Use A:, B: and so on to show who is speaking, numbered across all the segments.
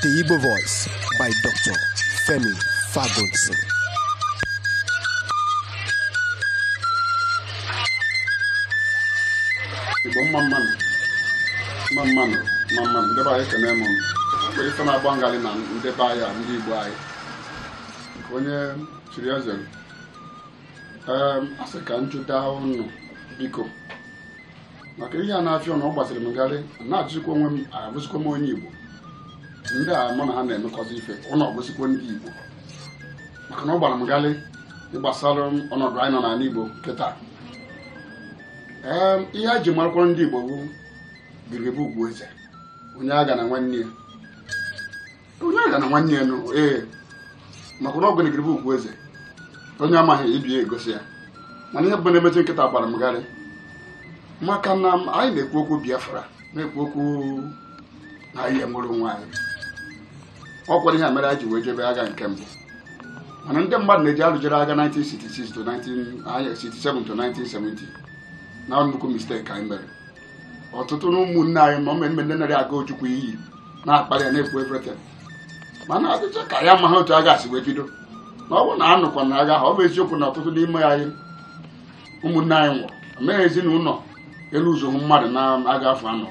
A: The Igbo Voice by Dr. Femi
B: Fagunson. Igbo mma mmanụ mma mmanụ mma mmanụ ndị be anyị ekene m mgbe ife na-agba m ghalị na ndị be anyị a ndị Igbo anyị nke onye chiri eze m. Em, a sị ka m jụta ụnụ biko maka ihe a na-afịa na ọ gbazịrị m gharị na-ajụzikwa onwe m abụzikwa m onye igbo ndị a mụ na ha na-emekọzi ife ọnụ ọ bụzikwa ndị igbo maka na ọ gbara m gharị gbasara ọnọdụ anyị nọ n'ala igbo kịta ee ihe e ji marakwa ndị igbo bụ gidigidi bụ ugwu eze onye aghana nwanne ya onye aghana nwanne ya nụ ee maka na ọ bụ gidigidi bụ ugwu eze onye amaghị ibe ya egosi ya mana ihe bụ na-emezi kịta gbara m gharị maka na m- anyị na-ekwu okwu biafra na-ekwu okwu na anyị enwere onwe anyị ọ kwara ihe mere anyị ji wee jebe agha nke mbụ mana ndị mmadụ na-eji alụjere agha 1966 to 1967 to 1970 na nnukwu mistake anyị mere ọtụtụ na ụmụnne anyị ma ụmụ ndị narị aga ojukwu iyi na-akparị ya na-ekwu everything mana ọ dịcha ka ha amaghị otu agha si wee bido na ọ bụrụ na a nụkwa na agha ọ bụ eziokwu na ọtụtụ n'ime anyị ụmụnne anyị nwụrụ mee ezinụlọ elu ụzọ mmadụ n'agha afọ anọ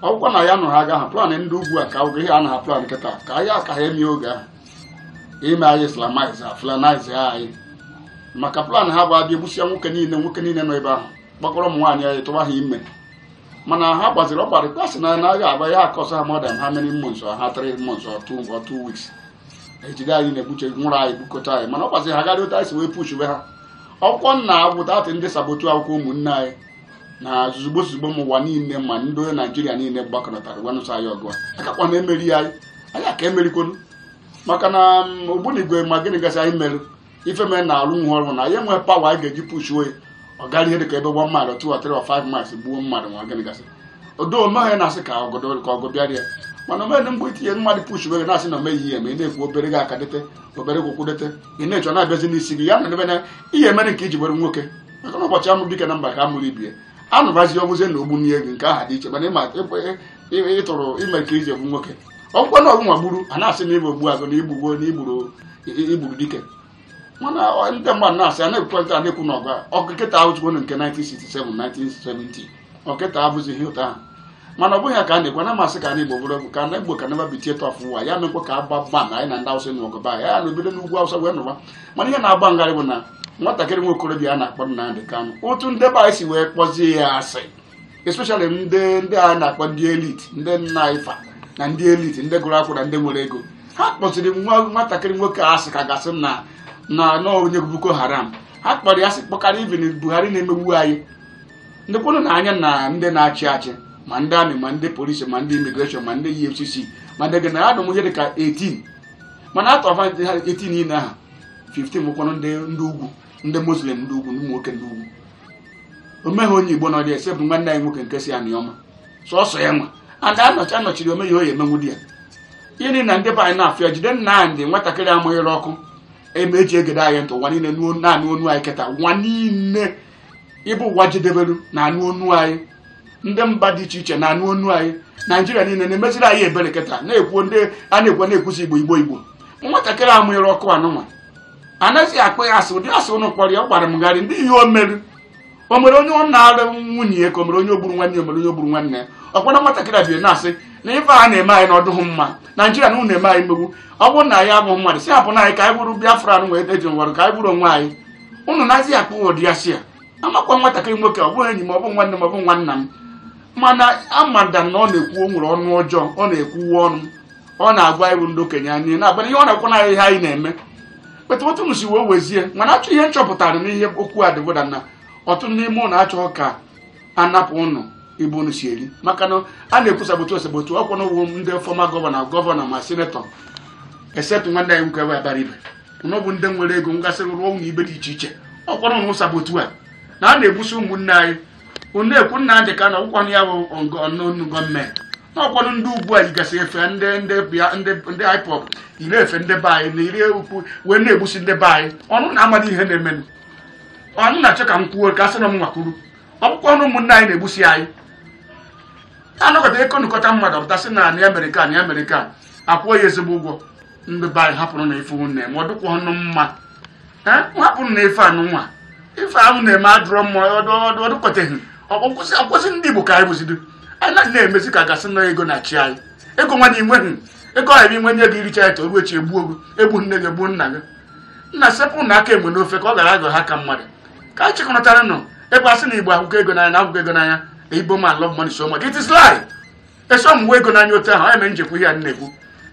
B: ọ bụkwa na ya nụrụ agha ahụ plan ndị ugwu a ka ọ bụ ihe a na ha plan kịta ka anyị aka ha eme oge ahụ ime anyị islamize fulanize anyị maka plan ha bụ a bịa egbusia nwoke niile nwoke niile nọ ebe ahụ kpọkọrọ ụmụ nwaanyị anyị tụwa ha ime mana ha gbaziri ọkwa rịkwasị na agha agaghị a-cost ha more than how many months ha three months or two weeks ejide anyị na-egbuche nwụrụ anyị bukọta anyị mana ọ gbaziri ha gharị otu anyị si wee pushube ha ọkwụkwọ nna agwụta atị ndị sabotu akwụkwọ ụmụnne anyị na zuzugbo zuzugbo ma ụwa niile ma ndị onye naijiria niile gbakọnatara wee nụsa anyị ọgụ akakwa na emeri anyị anyị aka emerikwonu maka na ogbunigwe ma gịnị gasị anyị merụ ife mere na alụ nwa ọrụ na ya enwe pawa a ga-eji pushuo ya ọ gara ihe dịka ebe one mile or two or three or five miles gbuo mmadụ nwa gịnị gasị odo omeghị na-asị ka ọgọdọ ka ọgọ bịara ya mana omeghị mgbe itinye mmadụ pushuo ya na-asị na omeghị ihe ma ị na-ekwu obere gị aka dete obere kwụkwụ dete ị na-echọ na-abịazi n'isi gị ya na ebe na ihe emere nke iji were nwoke maka na ụbọchị a mụ dike na mba ka a mụrụ ibe ya anụbazi ọ bụzie na ogbunigwe nke ha dị iche mana ịma ịtụrụ ime ka e ji egbu nwoke ọ bụkwa na ọgwụnwa gburu a na-asị na igbo gbuo agụ na igbugbo na igburu i- igburu dike mana ọ- ndị mmadụ na-asị a na-ekwukwa nke a na-ekwu na ọgụ a. ọgụ kịta ahụchukwu na nke 1967 1970 ọkịta abụzi ihe ụtọ ahụ mana ọ bụghị ya ka a na-ekwu na masị ka ana igbo bụrụ egwu ka ana igbo ka naba bitie tọf ụwa ya mekwa ka agba gba na anyị na ndị awụsa nwe ọgụba ya na obodo n'ugwu awụsa wee nụwa mana ihe na-agba m gharị bụ na nwatakịrị nwa okorobịa a na-akpọ Nnamdị Kanụ otu ndị be anyị si wee kpọzie ya asị especially ndị ndị a na-akpọ ndị elite ndị nna ifa na ndị elite ndị gụrụ akwụkwọ na ndị nwere ego ha kpọziri nwa nwatakịrị nwoke a asị ka a ga-asị na na na onye boko haram ha kpọrọ ya asị kpọkarịa even buhari na-emegbu anyị ndị kwụrụ na anya na ndị na-achị achị ma ndị army ma ndị polisi ma ndị immigration ma ndị efcc ma ndị gịnị a dụ ihe dị ka 18 mana out of 18 niile ahụ 15 bụkwanụ ndị ndị ugwu ndị muslim ndị ugwu ụmụ nwoke ndị ugwu o nweghị onye igbo nọdị except nwanne anyị nwoke nke si anịọma sọsọ ya nwa ada anọchi anọchiri o nweghị ihe emenwu di ya ịrị na ndị be anyị na-afịa jide nnamdi nwatakịrị a mụnyere ọkụ eme e ji egede anyị ntị ụwa niile na-anụ onu anyị kịta ụwa niile ebe ụwa jedebelu na-anụ onu anyị ndị mba dị iche iche na-anụ onu anyị naijiria niile na-emeziri anyị ebere kịta na-ekwu ndị a na-ekwu na-ekwusi igbo igbo igbo nwatakịrị a mụnyere ọkụ a nụnwa a na-azị akpọ ya asị ụdị asị ụnụ kpọrọ ya ọ gbara m gharị ndị ihe o meru o nwere onye ọ nalụ nwunye ya ka o nwere onye o gburu nwanne ya o nwere onye o gburu nwanne ya ọ kwa na nwatakịrị a bịa na-asị na ife a na-eme anyị na ọ dụghị mma naijiria na unu na-eme anyị mmegbu ọ bụrụ na anyị abụghị mmadụ sị hapụnụ anyị ka anyị bụrụ biafra na wee deji nwere ka anyị bụrụ onwe anyị unu na-azị akpọ ụdị asị ya amakwa nwatakịrị nwoke ọ bụghị enyi m ọ bụ nwanne m ọ bụ nwanna m mana amada na ọ na-ekwu o nwere ọnụ ọjọọ ọ na-ekwuwe ọnụ ọ na-agwa even ndị okenye anyị na-agwa ihe ọ na-ekwu na ihe anyị na-eme kịta otu m si wee wezie m na-achọ ihe m chọpụtara n'ihe okwu a dị bụ na na ọtụtụ n'ime ụnụ achọghị ka a napụ ụnụ ebe unu si eri maka na a na-ekwu saboteur saboteur ọ kwa ụnụ bụ ndị former governor governor ma senator except nwanne anyị nwoke abaribe ụnụ bụ ndị nwere ego gasị rụọ ụlọ ebe dị iche iche ọ kwanụ ụnụ saboteur a na a na-egbusi ụmụnne anyị ụnụ ekwu nnamdi kanu ọ bụkwanụ ya bụ ụnụ gọọmenti n'ọkwanụ ndị ugwu a yigasị efe ndị ndị bịa ndị ndị ipob yiri efe ndị be anyị na iri ukwu wee na-egbusi ndị be anyị ụnụ na-amadị ihe na-emenụ ụnụ na-achọ ka m kwuo ka a sị na m nwa kwuru ọ bụkwanụ ụmụnne anyị na-egbusi anyị a nọkọta ekonụkọta mmadụ ọ pụta sị na anị amerịka anị amerịka akwụọ ya ezigbo ụgwọ ndị be anyị hapụnụ ife ụnụ na-eme ọ dịkwanụ mma hapụnụ ife a nụnwa ife ụnụ na-eme adụrọ mma ọ dụkọteghị ọ kwụsị ndị Igbo ka anyị bụzido anyị na na-emezi ka a ga-asị na ego na-achị anyị ego nwa na i nweghị ego ọhịa inwe nye gị i richa eto ruo echi egbuo gị egbuo nne gị gbuo nna gị nna sepụnụ aka enwe n'ofe ka ọ ghara aghọ aka mmadụ ka anyị chịkọnọta ọnụ ebe a sị na Igbo ahụka ego n'anya na ahụka ego n'anya na Igbo man love money so much it is lie eso m ego n'anya otu ahụ ya mere m ji ekwu ihe a na-ekwu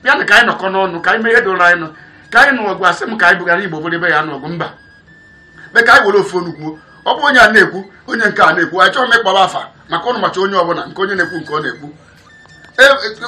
B: bịanụ ka anyị nọkọnụ ọnụ ka anyị mee ihe doro anyị nọ ka anyị nụ ọgụ asị m ka anyị bụgara igbo buru egbe je nụ ọgụ mba but ka anyị were ofu onu kwuo ọ bụ onye a na-ekwu onye nke a na-ekwu achọrọ m ịkpọba afa maka ụnụ macha onye ọbụla nke onye na-ekwu nke ọ na-ekwu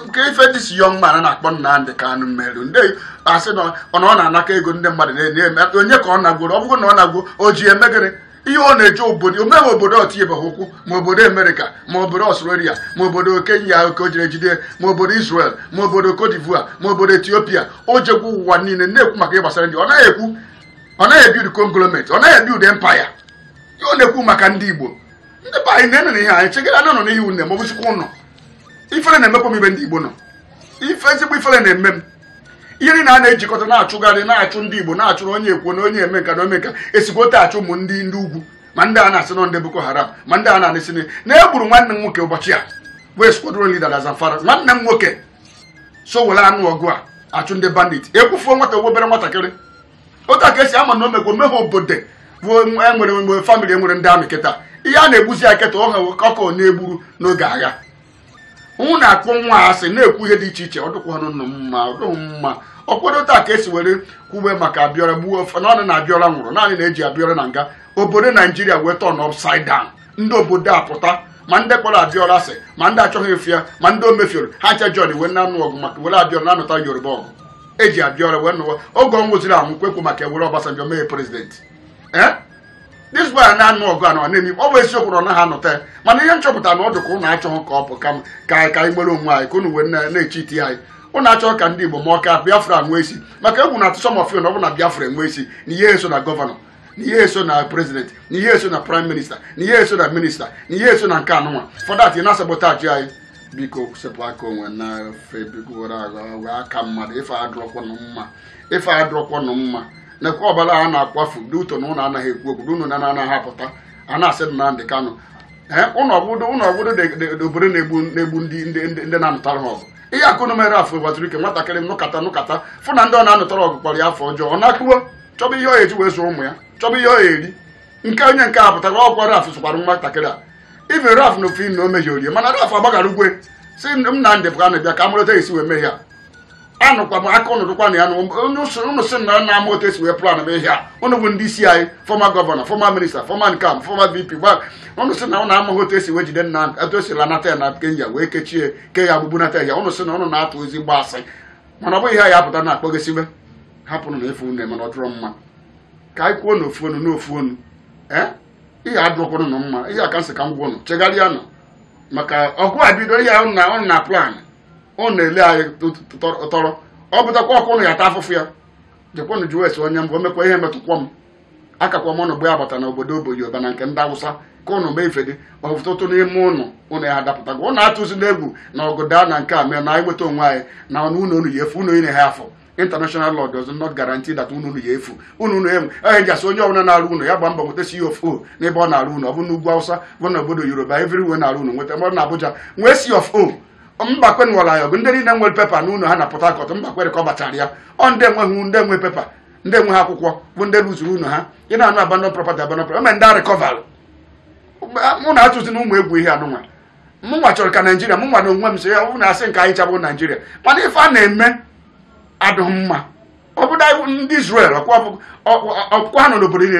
B: nke ife dịsị wrong mana na-akpọ Nnamdi Kanu nwerụ ndị asị na ọ na-anakọ ego ndị mmadụ na-enye onye ka ọ nagworo ọ bụrụ na ọ nagwo o ji eme gịnị ihe ọ na-eje obodo o nwere obodo o tinyebeghị ụkwụ ma obodo amerịka ma obodo australia ma obodo kenya ka o jere jide ma obodo israel ma obodo cote d'ivoire ma obodo ethiopia o jegwu ụwa niile na-ekwu maka ihe gbasara ndị ọ naghị ekwu ọ naghị ebuild conglomerate ọ naghị ebuild empire ihe ọ na-ekwu maka ndị igbo ndị be anyị na-enere ihe anyị chegharịa nụ n'ihe ụnụ ma ọ bụzikwa ụnụ ifere na-emekwa m ibe ndị igbo nọ ife ezigbo ifere na-eme m ihe niile a na-ejikọta na-achụgharị na-achụ ndị igbo na-achụrụ onye ekwuo na onye eme nka na o me nka esikwa otu a achụ ụmụ ndị ndị ugwu ma ndị a na-asị na ọ ndị boko haram ma ndị a na-asị na na e gburu nwanne m nwoke ụbọchị a wee squadron leader na zamfara nwanne m nwoke so were anụ ọgụ a achụ ndị bandit egbufuo nwata obere nwatakịrị otu a ka esi ama na o mekwa o nweghị obodo bụ enwere mgbe family enwere ndị army kịta ihe a na-egbuzi ya kịta ọha ọkọ na-egburu n'oge agha ụnụ na-akpọ nwa asị na-ekwu ihe dị iche iche ọ dụkwanụ nụ mma ọ dụghị mma ọ kwa otu a ka esi were kwube maka abiola gbuo ofe na ọnụ na abiola nwụrụ naanị na eji abiola na nga obodo naijiria wee turn upside down ndị obodo apụta ma ndị kpọrọ abiola asị ma ndị achọghị ife ya ma ndị o mefioro ha ncha join wee na-anụ ọgụ maka were abiola na-anụta yoruba ọgụ eji abiola wee nụwa oge ọ nwụziri anwụ kwekwu maka ewere obasanjo mee president ee this boy na-anụ ọgụ a na ọ na-eme ọ bụ eziokwu na ọ naghị anụta ya mana ihe m chọpụta na ọ dị ka ụnụ achọghị ka ọ pụ ka m- ka anyị ka anyị nwere onwe anyị ka ụnụ wee na- na-echeat anyị ụnụ achọghị ka ndị igbo ma ọ ka biafra nwee isi maka egwu na-atụ some of you na ọ bụ na biafra enwe isi na ị ya eso na governor na ị ya eso na president na ị ya eso na prime minister na ị ya eso na minister na ị ya eso na nke anụnwa for that ị na-asabotage anyị biko sepụ aka enwe n'ofe biko were aghọ aka mmadụ ife adụrọkwanụ mma ife adụrọkwanụ mma nekwa ọbara a na-akwafu ndị youth na ụnụ anaghị ekwu okwu ụnụ na anaghị apụta a na-asị Nnamdị Kanụ ee ụnụ obodo ụnụ obodo dị- dị- dị obodo na-egbu na-egbu ndị ndị ndị- ndị na-anụtara ha ọgụ ihe a ka ụnụ mere raph uwazuruike nwatakịrị a nụkata nụkata fụ na ndị ọ na-anụtara ọgụ kpọrọ ya afa ọjọọ ọ na-akụwa chọba ihe ọ ya eji wee zụọ ụmụ ya chọba ihe ọ ya eri nke onye nke a pụtara ọ kwa raph zụkwara nwatakịrị a ibe raph na ofe na o mehie orie mana raph agbaghara ugwe si Nnamdị Kanụ bịa ka a mụrụ otu esi wee mee ihe a anụkwa m aka ụnụ dụkwa na ya na onye ụsụ ụnụ sị na ụnụ ama otu esi wee plan ihe a ụnụ bụ ndị isi anyị former governor former minister former nka former vp gba ụnụ sị na ụnụ amaghị otu esi wee jide Nnamdị etu esi lanata ya na kenya wee kechie ke ya agbụ bunata ya ụnụ sị na ụnụ na-atụ ezigbo asị mana ọ bụghị ihe ya apụta na akpọgesibe hapụrụ na efu nne mana ọ dụrọ mma ka anyị kwuo n'ofu ọnụ n'ofu ọnụ ee ihe adụrọkwanụ na mma ihe a ka m sị ka m gwa ụnụ chegharịa nụ maka ọgụ a bido ihe ahụ ụnụ na-aplan ụnụ na-ele anyị tọrọ o butakwa ọkụ ụnụ ya ata afụfụ ya jekwanụ jụọ ese onye m bụ o nwekwa ihe metụkwa m akakwa m ọnụ gbe agbata na obodo obo yoruba na nke ndị awụsa ka ụnụ mee ife dị mma ọtụtụ n'ime ụnụ ụnụ ya adapụtago ụnụ atụzina egwu na ọgụ daa na nke a mee na anyị nweta onwe anyị na ọnụ ụnụ unu ya efu ụnụ ine ha afọ international law does not guarantee that ụlọ unu ya efu unu unu enwe onye ji asị onye ọbụla na-arụ ụlọ ya gba mbọ nweta C of O n'ebe ọ na-arụ ụlọ ọ bụ n'ugwu Hausa bụ na obodo Yoruba everywhere na-arụ ụlọ nweta mmadụ na Abuja nwee C of O Mbakwe nụara ya ọgụ ndị niile nwere pepa n'ụlọ ha na Port Harcourt Mbakwe recoverchara ya ọ ndị enweghị ndị enwe pepa ndị enweghị akwụkwọ bụ ndị luzuru ụlọ ha ị na-anụ abandon property abandon property eme ndị a recoverlụ mụ na atụzi na ụmụ egwu ihe anụnwa mụnwa chọrọ ka naijiria mụnwa na onwe m so ya ọ bụ na asị nke anyị ncha bụ naijiria mana ife a na-eme adịghị mma ọ bụda ndị Israel ọkwa ha nọ n'obodo niile